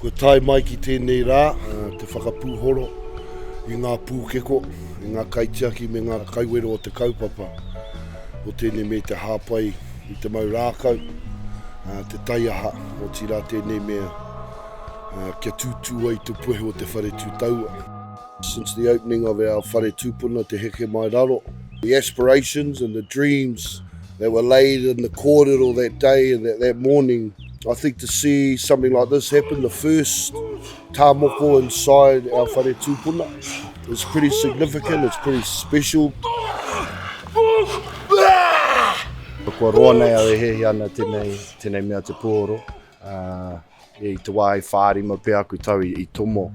Kua tae mai ki tēnei rā te whakapūhoro i ngā pūkeko, i ngā kaitiaki me ngā kaiwero o te kaupapa o tēnei mea i te hāpai i te mau rākau, te taiaha, otirā tēnei mea kia tūtū ai te puehu o te whare tūtaua. Since the opening of our whare tūpuna Te Heke Mai Raro, the aspirations and the dreams that were laid in the kōrero that day and that morning, I think to see something like this happen, the first tā moko inside our whare tūpuna, is pretty significant, it's pretty special. Kua roa nei au e hehi ana tenei, tenei mea te pōro. Uh, I te wā i whārima pea aku tau i tomo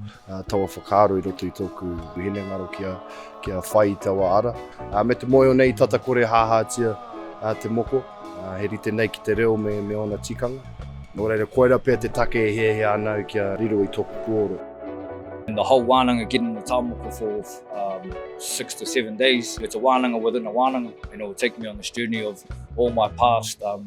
taua whakaaro i roto i tōku hinengaro kia whai i taua ara. Me te moe o nei tata kore hāhātia te moko, he rite nei ki te reo me ōna tikanga. Nō reira, koirā pea te take e hiahia ana au kia riro i tōku puoro. And the whole wānanga getting the tāmoko for um, six to seven days, it's a wānanga within a wānanga, and it will take me on this journey of all my past um,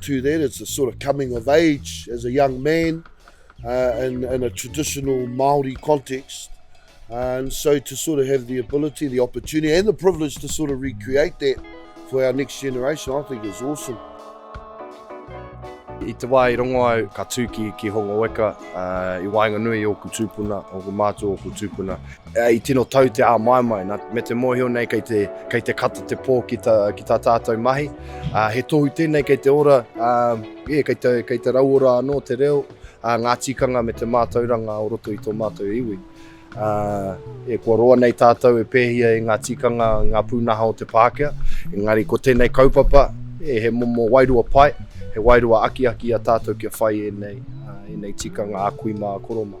to that it's a sort of coming of age as a young man uh, in, in a traditional Maori context uh, and so to sort of have the ability the opportunity and the privilege to sort of recreate that for our next generation I think is awesome I te wā i rongo au ka tū ki, ki Hongo Weka uh, i waenganui o ku tūpuna, o ku mātua o ku tūpuna. I tino tau te āmaimai, nā, me te mōhio nei kei te, kei te kata te pō ki tā, ki tā tātou mahi. Uh, he tohu tēnei kei te ora, uh, yeah, kei, te, kei te rauora anō te reo, uh, ngā tikanga me te mātauranga o roto i tō mātou iwi. Uh, e kua roa nei tātou e pēhia e ngā tikanga, ngā pūnaha o te Pākehā, engari ko tēnei kaupapa, e he momo wairua pai, he wairua akiaki a tātou kia whai e nei, uh, e nei tikanga a kui mā, a koro mā.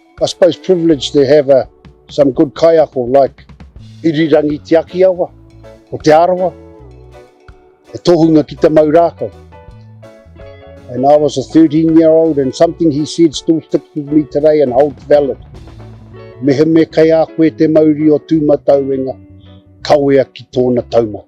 I suppose privileged to have a some good kaiako like Irirangi Te Akiawa o Te Arawa, he tohunga ki te mau rākau. And I was a 13 year old and something he said still sticks with me today and holds valid. Mehemea kei a koe te mauri o tūmatauenga, kawea ki tōna taumata.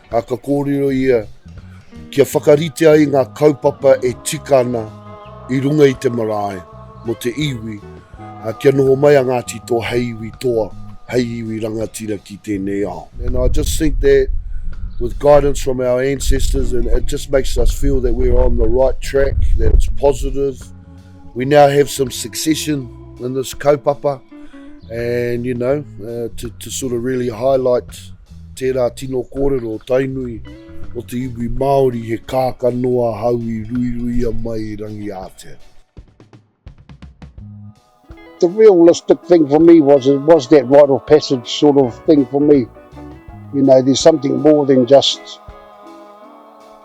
A ka kōrero ia kia whakarite ai ngā kaupapa e tika ana i runga i te marae mō te iwi, ā, kia noho mai a Ngāti Toa hei iwi toa, hei iwi rangatira ki tēnei ao. And I just think that with guidance from our ancestors and it just makes us feel that we're on the right track, that it's positive, We now have some succession in this kaupapa and you know uh, to, to sort of really highlight tērā tino kōrero o Tainui o te iwi Māori he kāka noa hau i ruiruia mai rangi ātea. The realistic thing for me was it was that rite of passage sort of thing for me. You know, there's something more than just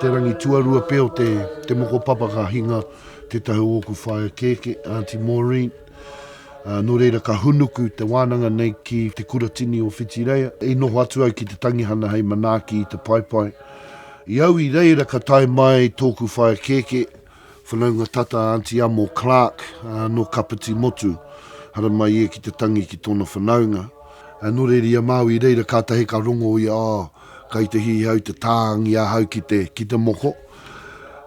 Te rangi tuarua pea o te te moko papa ka hinga tetahi o oku whaea keke, Aunty Maureen, a, no reira ka hunuku te wananga nei ki te kuratini o Whitireia, i noho atu au ki te tangihana hei manaaki i te paepae. I au i reira ka tae mai toku whaea keke Whanaunga tata a Anti Amo Clark no Kapiti Motu. Hara mai ia ki te tangi ki tona whanaunga. No reri a Maui i reira katahi ka rongo ia oh kai te hihau te taangi ahau ki te ki te moko.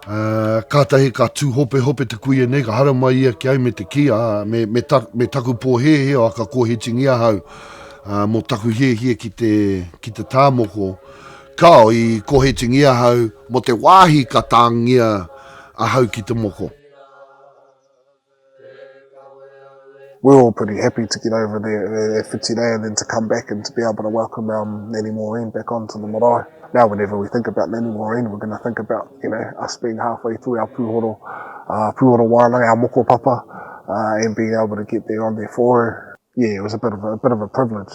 Katahi ka tuhopehope te kuia nei ka hara mai ia ki au me te ki a me me me taku po hehe oh ka kohitingi ahau mo taku hiehie ki te ki te taa moko. Kao, i kohetingi ahau mo te wahi ka tangia ahau ki te moko. We were all pretty happy to get over there e whiti nei and then to come back and to be able to welcome our Nanny Maureen back on to the marae. Now whenever we think about Nanny Maureen we're going to think about, you know, us being half way through our pūhoro, uh, pūhoro wānanga, our moko papa, uh, and being able to get there on there for her. Yeah, it was a bit of a, a bit of a privilege.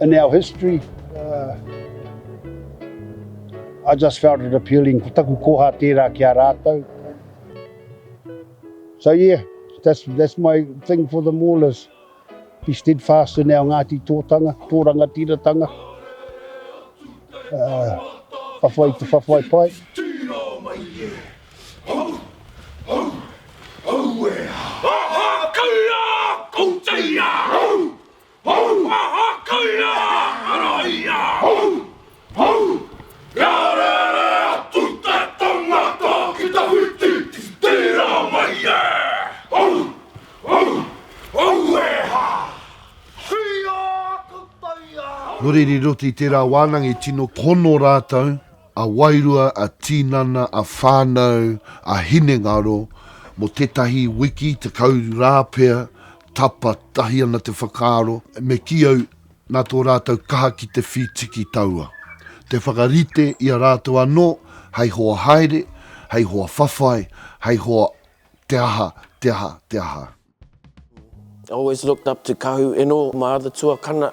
In our history, I just felt it appealing, ko taku koha tērā ki a rātou. So yeah, that's that's my thing for them all is be steadfast in our Ngāti Tōtanga, tō rangatiratanga, whawhai te whawhai pai. Hau! Hau! Aha! Kai rā! Ara i a au! Hau! Kia rere atu te tangata ki te whiti, tira mai e! Hau! Hau! Hau e ha! Hia! Ka tae au! Nō reira i roto i tērā wānanga i tino hono rātou, a wairua, a tīnana, a whānau, a hinengaro, mō tētahi wiki, tekau rā pea, Tapa tahi ana te whakaaro, me kī au, nā tō rātou kaha ki te whītiki taua, te whakarite i a rātou anō hei hoa haere, hei hoa whawhai, hei hoa te aha, te aha, te aha. I always looked up to Kahu Eno, my other tuakana,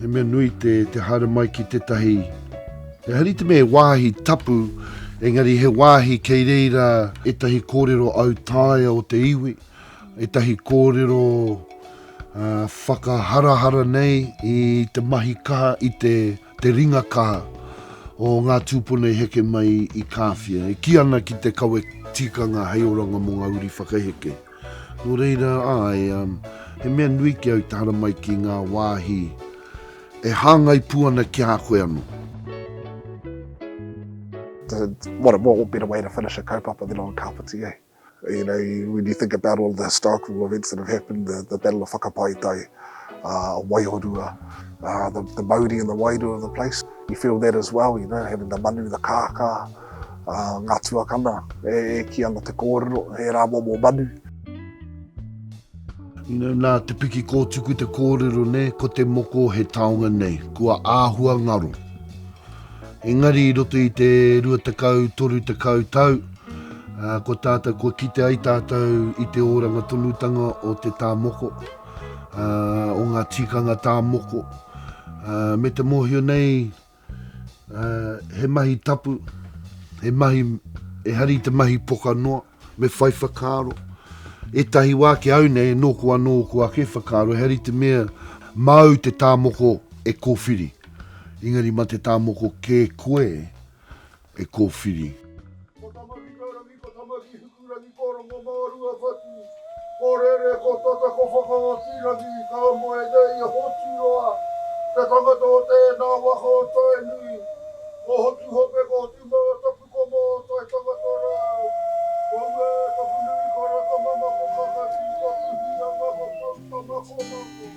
He mea nui te, te haere mai ki tētahi... Ehara te mea he wāhi tapu, engari he wāhi kei reira ētahi kōrero autaia o te iwi, ētahi kōrero uh, whakaharahara nei i te mahi kaha, i te, te ringa kaha o ngā tūpuna i heke mai i Kāwhia. E ki ana ki te kawe tikanga hei oranga mō ngā uri whakaheke. Nō reira, āe, he mea nui ki au te haramai ki ngā wāhi e hāngai pū ana ki a koe anō. What a more, what better way to finish a kaupapa than on Kapiti, eh? You know, when you think about all the historical events that have happened, the, the Battle of Whakapaetae, uh, Waiorua, uh, the, the mauri and the wairua of the place, you feel that as well, you know, having the manu, the kākā. Ngā tuakana e kī ana te kōrero, he rā momo manu. Nā te piki kōtuku te kōrero nei, ko te moko he taonga nei, kua āhua ngaro. Engari i roto i te 20, 30 tau, ko tātou, kua kite ai tātou i te oranga tonutanga o te tā moko, o ngā tīkanga tā moko, me te mōhio nei he mahi tapu, he mahi, ehara i te mahi poka noa, me whai whakaaro. Ētahi wā ki au nei, nōku anō ōku ake whakaaro, ehara i te mea māu te tāmoko e kōwhiri, engari mā te tāmoko kē koe, e kōwhiri. Ko Tamaki Taurangi, ko Tamaki Hikurangi, ko Rongomārua Whatu, ko Rere, ko Tata, ko Whakaotirangi, ka moe nei a Hoturoa, te tangata o tēnā waka o Tainui. Ko Hotuhope, ko Hotumātapu, ko Mōtai tangata rāu. Ko Uētapunui, ko Rakamama, ko Kakati, ko Tuhianga, ko Poutama, ko Mako.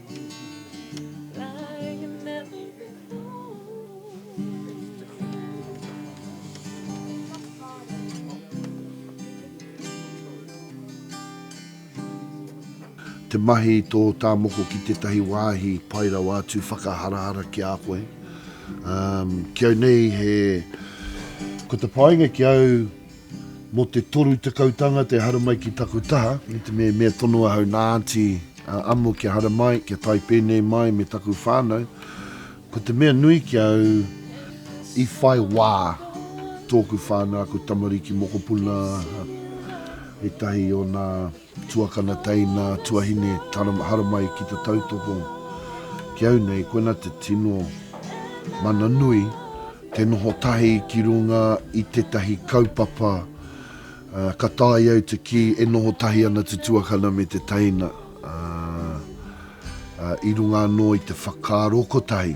Te mahi i tō tāmoko ki tētahi wāhi pai rawa atu whakaharahara ki a koe. Ki au nei he, ko te painga ki au Mo te toru tekau tanga te hara mai ki taku taha, me te mea mea tonu ahau na Aunty a Amo kia hara mai, kia tae penei mai me taku whanau, ko te mea nui ki au i whai wa toku whanau, aku tamariki, mokopuna, etahi o na. Tuakana teina tuahine haramai ki te tautoko ki au nei koina te tino mana nui te noho tahi ki runga i tetahi kaupapa ka tae au te ki e noho tahi ana te tuakana me te teina i runga ano i te whakaaro kotahi.